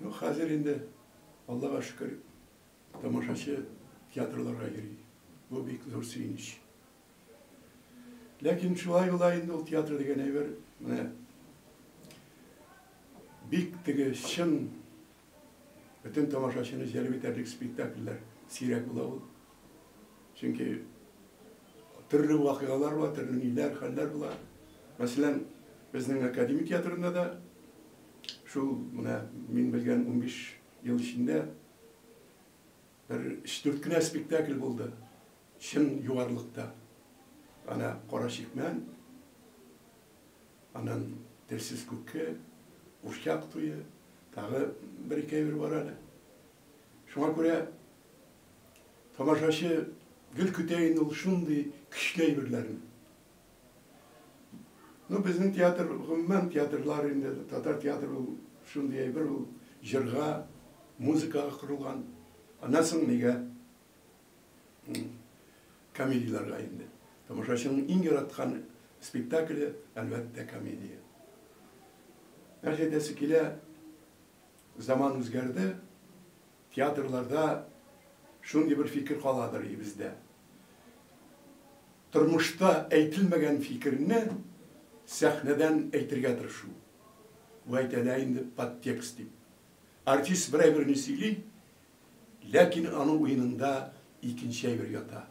Ну, хәзер инде, Аллага шөкер, тамашачы театрларга йөри. Бу бик зур сөенеч. Ләкин шулай була инде ул театр дигән әйбер, менә бик теге чын Бөтен тамашачыны җәлеп итәрлек спектакльләр сирәк була ул. Чөнки төрле вакыйгалар була, төрле ниләр, хәлләр була. Мәсәлән, безнең академия театрында да шул менә мин белгән 15 ел эчендә бер 3-4 кенә спектакль булды. Чын югарлыкта ана кара чикмән, аннан телсез күке, курчак туе, тагы бер-ике әйбер бар әле. Шуңа күрә тамашачы гел көтә инде ул шундый көчле әйберләрне. Ну, безнең театр, гомумән театрлар инде, татар театры ул шундый әйбер, ул җырга, музыкага корылган. Аннан соң нигә? комедияләргә инде. Тамашачының иң яраткан спектакле, әлбәттә, комедия. Нәрсә әйтәсе килә, заман үзгәрде, театрларда шундый бер фикер каладыр и бездә. Тормышта әйтелмәгән фикерне сәхнәдән әйтергә тырышу. Бу әйтелә инде подтекст дип. Артист берәй берни сөйли, Ләкин аның уенында икенче әйбер ята.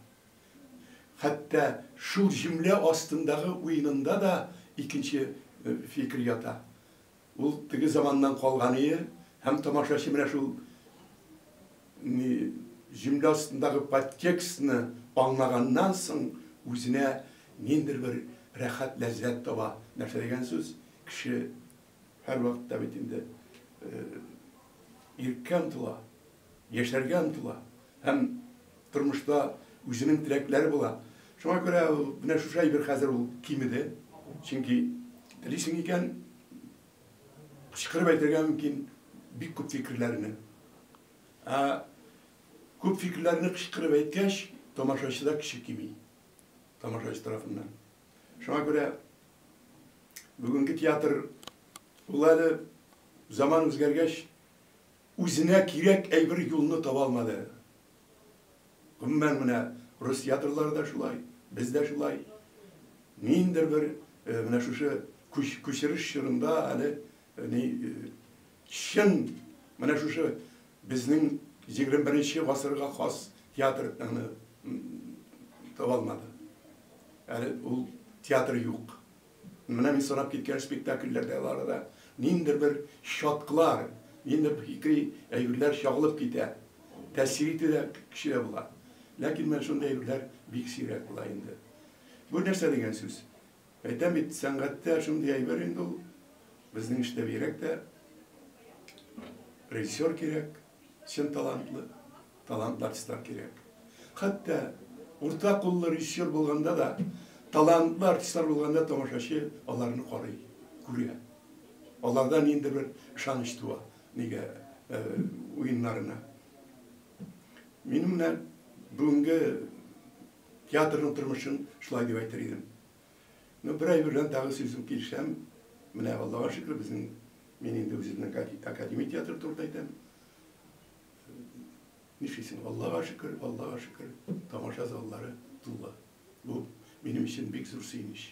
Хәтта шул җөмлә астындагы уенында да икенче фикер ята. Ул теге заманнан калганые һәм тамашачы менә шул җөмлә астындагы подтекстны аңлаганнан соң үзенә ниндер бер рәхәт ләззәт таба. Нәрсә дигән сүз? Кеше Һәрвакытта бит инде иреккә омтыла, яшәргә омтыла һәм тормышта үзенең теләкләре була. Шуңа күрә ул менә шушы әйбер хәзер ул кимеде. Чөнки телисең икән, кычкырып әйтергә мөмкин бик күп фикерләрне. Ә күп фикерләрне кычкырып әйткәч, тамашачыда кеше кими. Тамашачы тарафыннан. Шуңа күрә Бүгенге театр, ул әле, заман үзгәргәч, үзенә кирәк әйбер юлны таба алмады. Гомумән, менә рус театрлары да шулай, без дә шулай. Ниндидер бер менә шушы күчереш чорында әле Әни, чын менә шушы безнең 21 нче гасырга хас театрны таба алмады. Әле ул театр юк. Менә мин санап киткән спектакльләрдә ларда ниндидер бер чатклар, ниндидер бер фикри әйберләр чагылып китә. Тәэсир итү дә кешедә була. Ләкин менә шундый әйберләр бик сирәк була инде. Бу нәрсә дигән сүз? Әйтәм бит, сәнгатьтә шундый әйбер инде ул, безнең эштә бигрәк тә режиссер кирәк, чын талантлы, талантлы артистлар кирәк. Хәтта урта куллы режиссер булганда да, талантлы артистлар булганда тамашачы аларны карый, күрә. Аларда нинди бер ышаныч туа, нигә уеннарына. Минем менә бүгенге Театрның тормышын шулай дип әйтер идем. Ну, бер ай белән тагы сүзем килешәм. Менә Аллага шөкер, безнең мин инде үземнең академия театры турында әйтәм. Нишлисең, Аллага шөкер, Аллага шөкер, тамаша заллары тулы. Бу минем өчен бик зур сөенеч.